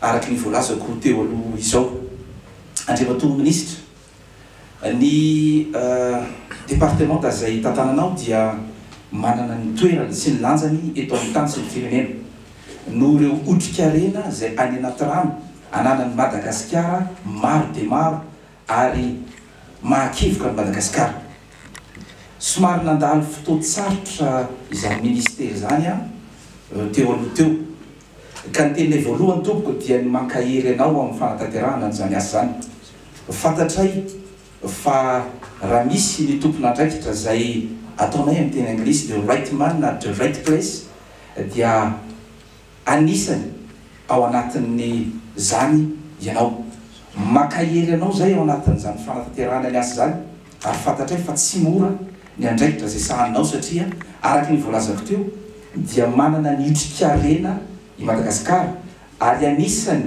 Araka ny voalazako teo aloha izao, Andriamatoa Minisitra, ny Departemanta izay tantananao dia manana ny toerany sy ny lanjany eto amin'ny tany sy ny firenena, noho ireo otrikarena izay any anaty rano ananan'i Madagasikara maro dia maro ary mahakevoka an'i Madagasikara. Somary nandalo fotoan-tsarotra izany Minisitera izany aho teo aloha teo, Ka ny tenay voalohany tompoko dia ny mankahery anao amin'ny fanatanterahana an'izany asa izany. Fantatray fa raha misy ny tompon'andraikitra izay ataonay amin'ny teny anglisy the right man at the right place dia anisany ao anatin'izany ianao. Mankahery anao izay ao anatin'izany fanatanterahana ny asa izany. ary fantatray fa tsy mora ny andraikitra izay sahaninao satria araka ny voalazako teo dia manana ny otrikarena i Madagasikara ary anisany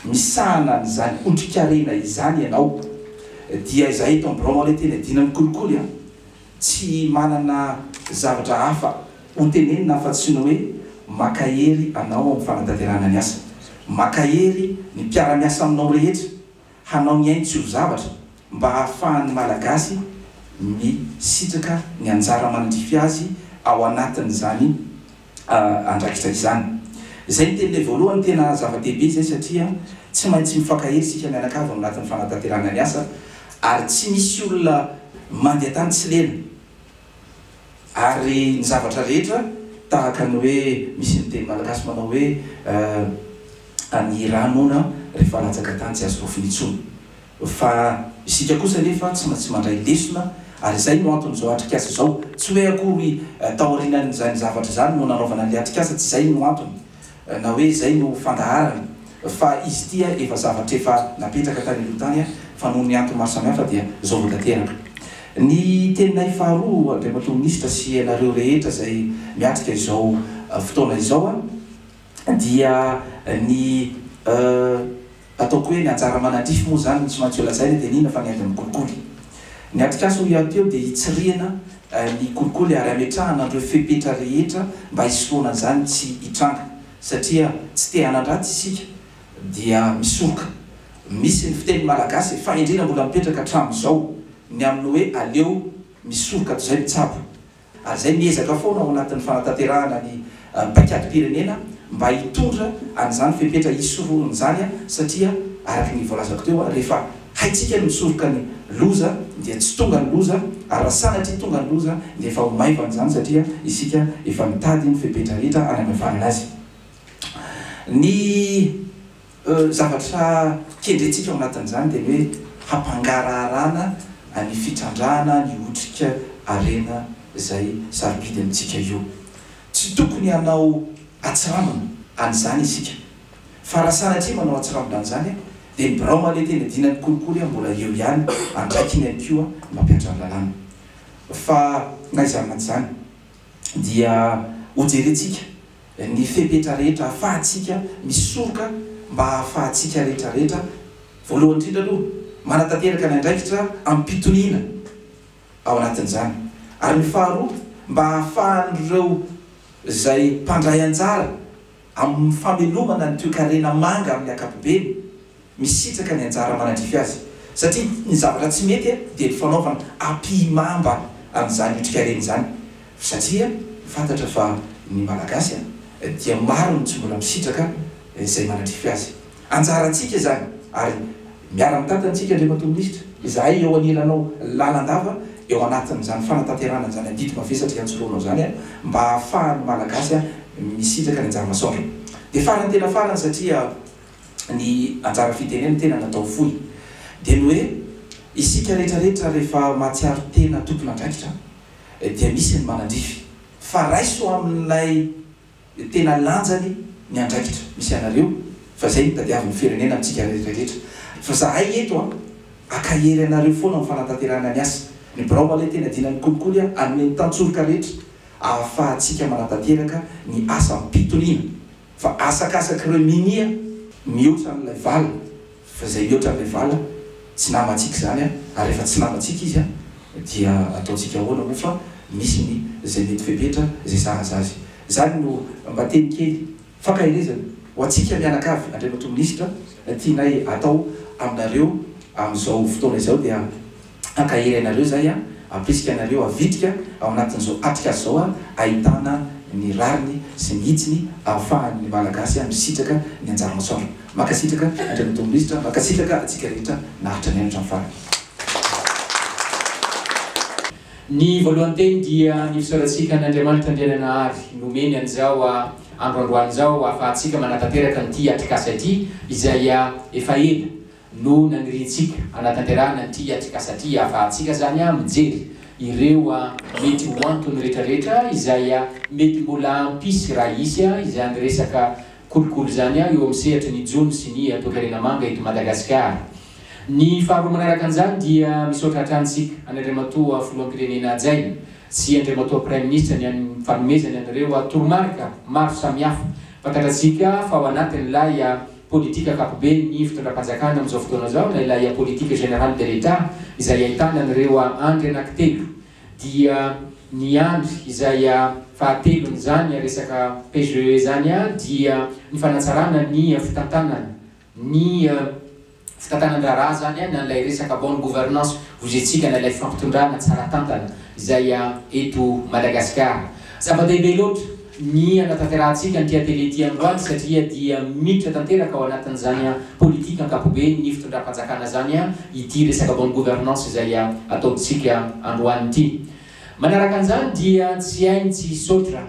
misahana an'izany otrikarena izany ianao dia izahay eto amin'ny biraonao anie tena iadiana ny kolikoly an! tsy manana zavatra hafa hotenenina afa-tsy ny hoe makahery anao amin'ny fanatanterahana ny asa, makahery ny mpiara-miasa aminao rehetra hanao ny ainy tsy ho zavatra mba hahafahan'ny Malagasy misitraka ny anjara mandrify azy ao anatin'izany andraikitra izany. Izay ny teninay voalohany, tena zava-dehibe izay satria tsy maintsy mifankahery isika mianakavy ao anatin'ny fanatanterahana ny asa ary tsy misy olona mandeha tany tsy lena. Ary ny zavatra rehetra tahaka ny hoe misy ny teny malagasy manao hoe ny rà noana rehefa latsaka tany tsy azo rofy intsony. Fa isika kosa anefa tsy maintsy mandray lesona ary izay no antony izao atrikasa izao. Tsy hoe akory taorianan'izany zavatra izany no nanaovana an'ilay atrikasa, tsy izay no antony. Na hoe izay no fandaharany fa izy ity efa zavatra efa napetraka tany aloha tany fa noho ny antony maro samihafa dia izao vao tanteraka. Ny teninay faharoa Andriamatoa Minisitra sy ianareo rehetra izay miatrika izao fotoana izao dia ny. Ataoko hoe ny anjara manadrify moa izany no tsy maintsy holazaina dia ny inona fa ny haingam kolikoly. Ny atrikasa hoy aho teo dia hitsirihina ny kolikoly ary hametrahana an'ireo fepetra rehetra mba hisorohana an'izany tsy hitranga satria tsy te hanan-dratsy isika dia misoroka. Misy ny fiteny malagasy e, fahendrena mbola mipetraka hatramin'izao ny amin'ny hoe aleo misoroka toy izay mitsabo. ary izay miezaka foana ao anatin'ny fanatanterahana ny paikadim-pirenena mba hitondra an'izany fepetra hisoroana izany satria araka ny voalazako teo rehefa haintsika ny misoroka ny loza dia tsy tonga ny loza ary raha sanatria tonga ny loza dia efa ho maivana izany satria isika efa nitady ny fepetra rehetra hanamaivanana azy. Ny. Zavatra kendrentsika ao anatin'izany dia ny hoe hampangaraharana ny fitrandrahana ny otrika harena izay sarobidy amintsika io. Tsy tokony hanao atsirambina an'izany isika. Fa raha sanatria manao atsirambina an'izany dia ny birao mahaleta eny Adinany kolikoly mbola eo ihany antraikiny ihany koa ny mpampiantrano lalàna. Fa na izany na tsy izany. dia hojerentsika ny fepetra rehetra ahafahantsika misoroka mba hahafahantsika rehetrarehetra voalohany indrindra aloha manatanteraka ny andraikitra amim-pitoniana ao anatin'izany ary ny faharoa mba hahafahan'ireo izay mpandray anjara amin'ny famelomana ny toekarena manga amin'ny ankapobeny Misitraka ny anjara manadrify azy satria ny zavatra tsy mety dia ny fanaovana ampihimamba an'izany otrikareny izany satria fantatra fa ny Malagasy dia maro ny tsy mbola misitraka izay manadrify azy. Anjarantsika izany ary miara-mitantana isika Andriamatoa Minisitra, izahay eo anilanao lalandava eo anatin'izany fanatanterahana an'izany adidy mavesatra iantsoroanao izany mba hahafahan'ny Malagasy misitraka ny anjara masoandro. Dia farany tena farany satria ny anjara fitenenana tena natao fohy dia ny hoe isika rehetra rehetra rehefa mahatsiaro tena tompon'andraikitra dia misy ny manandrify fa raiso amin'ilay tena lanjany ny andraikitra misy anareo fa izay no tadiavin'ny firenena amintsika rehetra rehetra fa zahay eto an akahery anareo foana amin'ny fanatanterahana ny asa ny birao aloha tena dinan'ny kolikoly an hanome ny tantsoroka rehetra ahafahantsika manatanteraka ny asa am-pitoniana Fa asakasak'ireo minia mihoatra an'ilay vala, fa izay mihoatra an'ilay vala tsy namantsika izany an, ary rehefa tsy namantsika izy an dia ataontsika ahoana moa fa misy ny izay mety fepetra izay sahaza azy. Izany no mba teny kely fankaherezana ho antsika mianakavy Andriamatoa Minisitra tianay atao aminareo amin'izao fotoana izao dia Hankahery anareo izay an! Ampirisika anareo havitrika ao anatin'izao atrikasa izao ahitana ny rariny sy ny hitsiny ahafahan'ny Malagasy misitraka ny anjara asaony. Mankasitraka Andriamatoa Minisitra, mankasitraka antsika rehetra naharitra niaino hatramin'ny farany. Ny voalohany teny dia ny fisaorantsika an' Andriamanitra Andriananahary nomeny an'izao andro androany izao ahafahantsika manatanteraka an'ity atrikasa ity izay efa ela no nanirintsika hanatanterahana an'ity atrikasa ity ahafahantsika zany mijery ireo mety ho antony rehetra rehetra izay mety mbola hampisy raha hisy izany resaka kolikoly izany eo amin'ny sehatry ny jono sy ny toekarena manga eto Madagasikara. Ny faharoa manaraka an'izany dia misaotra hatrany isika an'i Andriamatoa Filoham-pirenena hajaina sy Andriamatoa Praiminisitra ny an'ny fanomezany an'ireo toromarika maro samihafa, fantatratsika fa ao anatin'ilay. Politika ankapoben ny fitondram-panjakana amin'izao fotoana izao na ilay Politique Générale de l'Etat izay ahitana an'ireo andry anankitelo dia ny andry izay fahatelon'izany resaka PGE izany dia ny fanatsarana ny fitantanana ny fitantanan-draharaha izany na ilay resaka bonne gouvernance voizintsika na ilay fampitondrana tsara tantana izay eto Madagasikara. Zava-dehibe loatra. ny hanatanterahantsika an'ity atelier ity androany satria dia miditra tanteraka ao anatin'izany politika ankapobeny ny fitondram-panjakana zany ity resaka bonne gouvernance izay ataontsika androany ity. Manaraka an'izany dia tsy hay ny tsy hisaotra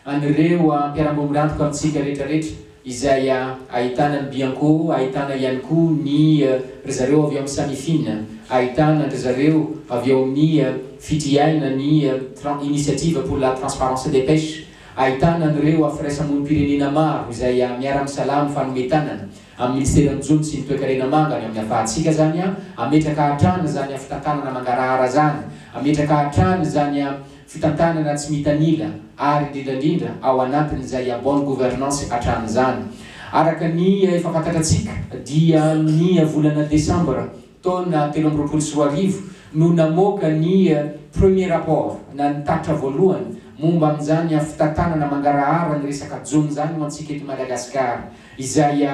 an'ireo mpiara-bomirantoka amintsika rehetra rehetra izay ahitana ny Bianco, ahitana ihany koa ny ry zareo avy ao amin'ny Samifin, ahitana an-dry zareo avy ao amin'ny fitriaina ny Initiative pour la transparence des pêches, ahitana an'ireo firaisa-monim-pirenena maro izay miara-misalahy amin'ny fanome tanana amin'ny Minisiteran'ny Jono sy ny Toekarena Manga ny amin'ny hafahantsika izany, hametraka hatrany izany fitantanana mangarahara izany, hametraka hatrany izany. fitantanana tsy mitanila ary indrindrandrindra ao anatin'izay a bonne gouvernance hatramin'izany. Araka ny efa fantatrantsika dia ny volana desambra taona telo amby roapolo sy roa arivo no namoaka ny premier rapport na ny tatitra voalohany momba amin'izany fitantanana mangarahara ny resaka jono izany ho antsika eto Madagasikara izay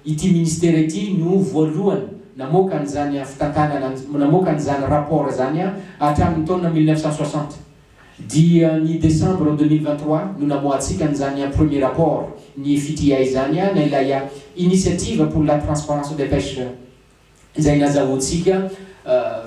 Ity Ministera ity no voalohany namoaka an'izany fitantànana, namoaka an'izany rapport izany hatramin'ny taona mille neuf cent soixante. Dia ny décembre deux mille vingt trois no namoahantsika an'izany premier rapport ny fitria izany na ilay initiative pour la transparence des pêches. izay nazahoantsika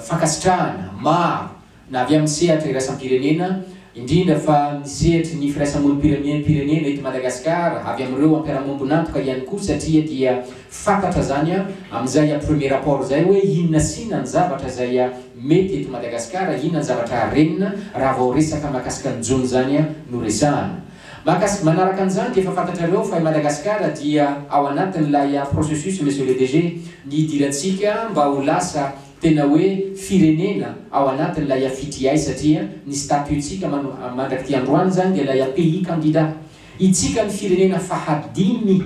fankasitrahana maro na avy amin'ny sehatra iraisam-pirenena, indrindra fa ny sehatry ny firaisamonim-pirenena eto Madagasikara, avy amin'ireo mpiara-miombon'antoka ihany koa satria dia fantatra izany amin'izay premier rapport izay hoe inona sy inona ny zavatra izay mety eto Madagasikara, inona ny zavatra harenina raha vao resaka mahakasika ny jono izany no resahana. Mahakasika, manaraka an'izany dia efa fantatrareo fa i Madagasikara dia ao anatin'ilay processus Monsieur le DG, ny hidirantsika mba ho lasa tena hoe firenena ao anatin'ilay FDI satria ny statut-tsika mano mandrak'ity androany izany dia ilay pays candidat. Itsika ny firenena fahadimy.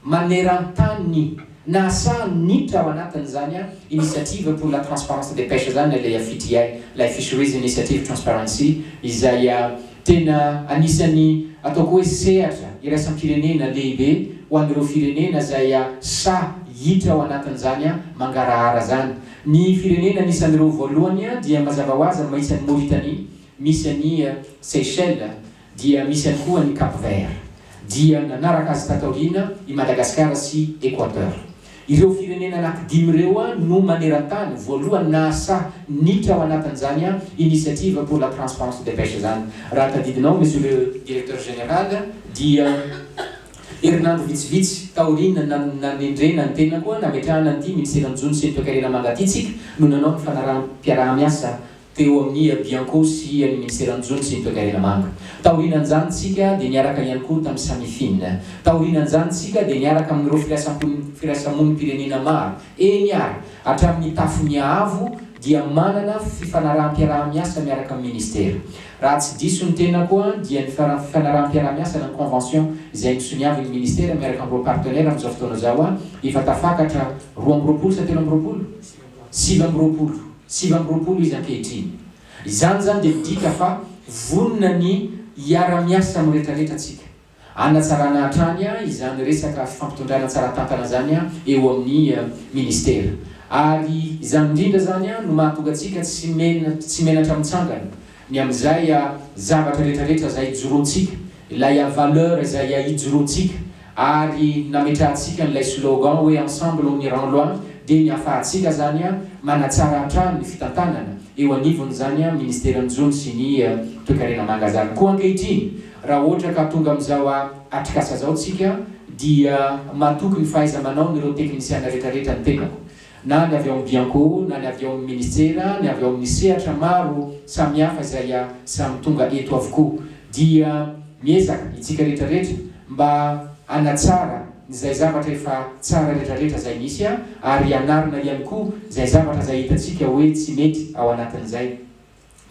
maneran-tany nahasahany niditra ao anatin'izany Initiative pour la transparence des pêches izany ilay FITI, ilay Fisheries Initiative Transparency, izay tena anisan'ny ataoko hoe sehatra iraisam-pirenena lehibe ho an'ireo firenena izay sahy hiditra ao anatin'izany mangarahara izany. Ny firenena anisan'ireo voalohany dia mazava ho azy maintsy an'i Mauritanie, misy an'i Seychelles, Dia misy ihany koa an'i Cap Vert. Dia nanaraka azy tato aoriana i Madagasikara sy Equateur. Ireo firenena anankidimy ireo no maneran-tany voalohany nahasahy niditra ao anatin'izany Initiative pour la transparence des pêches izany. Raha tadidinao Monsieur le Directeur Général dia herinandro vitsivitsy taoriana nanendrena ny tenako nametrahana an'ity Minisera ny jono sy ny toekarena manga ity tsika no nanao ny fanaraham-piaraha-miasa teo amin'ny ia Bianco sy ia ny Minisera Jono sy ny Toekarena Manga. Taorianan'izany tsika dia niaraka ihany koa tamin'ny Samifin. Taorianan'izany tsika dia niaraka amin'ireo firaisampon firaisamonim-pirenena maro. Eny ary, hatramin'ny Tafonia Avo dia manana fifanaraham-piaraha-miasa miaraka amin'ny Minisitera. Raha tsy diso ny tenako an, dia ny fara fifanaraham-piaraha-miasa na ny convention izay nisoniavin'ny Minisitera miaraka amin'ireo partenaires amin'izao fotoana izao an, efa tafakatra roa amby roapolo sa telo amby roapolo? sivy amby roapolo, sivy amby roapolo izy ankehitriny. Izany izany dia midika fa vonona ny hiara-miasa amin'ny rehetrarehetra tsika, hanatsarana hatrany izany resaka fifampitondrana tsara tantana izany eo amin'ny Ministera. Ary izany indrindra izany no mahatonga antsika tsy menatra mitsangana Ny amin'izay zavatra rehetra rehetra izay ijoroantsika, ilay valeur izay ijoroantsika ary nametrahantsika an'ilay slogan hoe ensemble on ira loin dia ny afahantsika izany manatsara hatrany ny fitantanana eo anivon'izany ministeran'ny jono sy ny toekarena manga izany. Koa ankehitriny raha ohatra ka tonga amin'izao atrikasa izao tsika dia matoky ny fahaiza-manaon'ireo teknisiana rehetra rehetra ny tenako na ny avy ao amin'ny Bianco, na ny avy ao amin'ny Ministera, ny avy ao amin'ny sehatra maro samihafa izay samy tonga eto avokoa. Dia miezaka itsika rehetra rehetra mba hanatsara izay zavatra efa tsara rehetra rehetra izay misy ary hanarina ihany koa izay zavatra izay hitantsika hoe tsy mety ao anatin'izay.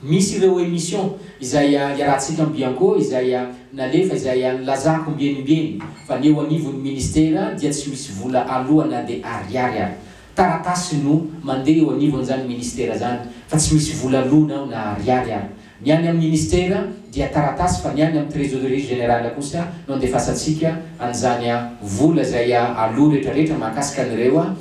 Misy ireo emission izay iarahantsika am Bianco izay nalefa izay nilazako ombieniombieny fa ny eo anivon'ny ministera dia tsy misy vola aloa na dia ariary ary. Taratasy no mandeha eo anivon'izany ministera izany fa tsy misy vola aloa na na ariary ary. Ny any amin'ny ministera dia taratasy fa ny any amin'ny trésorerie générale kosa no andefasantsika an'izany vola izay aloa retraretra mahakasika an'ireo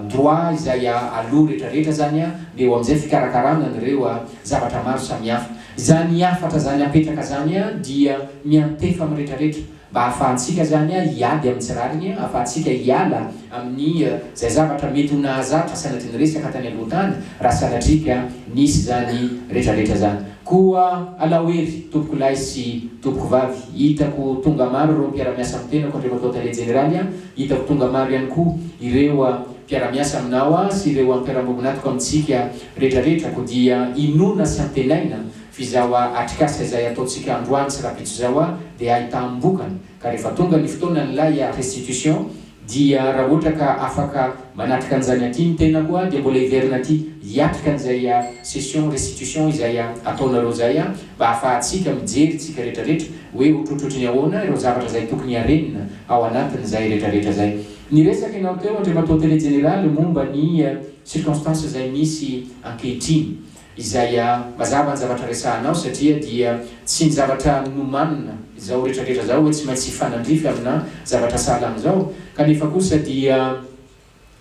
droit izay aloa rehetra rehetra zany a, de eo amizay fikarakarana an'ireo zavatra maro samihafa. Zany hafatra zany apetraka zany a dia miantefa amin'ny rehetra rehetra mba hahafahantsika zany a hiady amin'ny tsy rariny, hahafahantsika hiala amin'ny zay zavatra mety ho nahazatra sanatria niresaka tany aloha tany raha sanatria ka nisy zany rehetra rehetra zany. Koa alao hery tompoko lahy sy tompoko vavy, hitako tonga maro ireo mpiara-miasa amin'ny tenako, Andriamatoa Tale Jeneraly a, Hitako tonga maro ihany koa ireo mpiara-miasa aminao sy ireo mpiara-mombon'atoko amintsika retraretra ko dia inoana sy antenaina f'izaho atrikasa izay ataontsika androany sy rapitso izao dia ahitam-bokany ka rehefa tonga ny fotoanan'ilay restitution dia raha ohatra ka afaka manatrika an'izany aty ny tenako dia mbola hiverina aty hiatrika an'izay session restitution izay ataonareo izay Mba hahafahantsika mijery tsika rehetra rehetra hoe otrotrotry ny ahoana ireo zavatra izay tokony harenina ao anatin' izay rehetra rehetra izay niresaka ianao teo Andriamatoa Tele Jeneraly momba ny circonstances izay misy ankehitriny izay mazava ny zavatra resahanao satria dia tsy ny zavatra nomanina izao rehetra rehetra izao hoe tsy maintsy hifanandrify amina zavatra sahala amin' izao kanefa kosa dia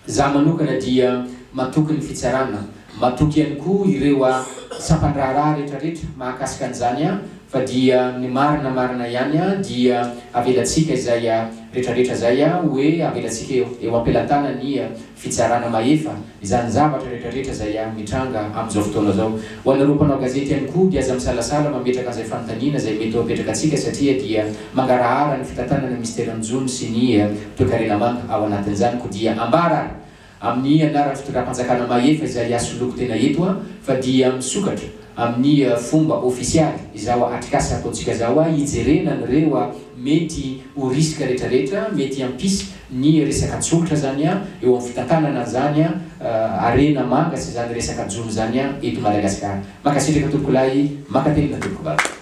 Za manokana dia matoky ny fitsarana, matoky ihany koa ireo a sampandraharaha retra retra mahakasika an'izany a fa dia ny marina marina ihany a dia avelatsika izay a retra retra zay a oe avelatsika eo ampelatanan'ny fitsarana mahefa izany zavatra retra retra zay a mitranga am'izao fotoana zao Ho anareo mpanao gazety ihany koa dia aza misalasala mametraka an'izay fanontaniana izay mety ho apetraka antsika satria dia mangarahara ny fitantanana misy teran'ny jono sy ny toekarena manga ao anatin'izany ko dia ambara ary amin'ny anaran'ny fitondram-panjakana mahefa izay asoloako tena eto fa dia misokatra amin'ny fomba ofisialy izao atrikasa ataontsika zao hijerena an'ireo mety ho risque retraretra mety hampisy ny resaka tsolotra zany an eo amin'ny fitantanana an'izany an harena manga sy izany resaka jono izany an eto Madagasikara. Mankasitraka tompoko lahy, mankatelina tompoko vavy.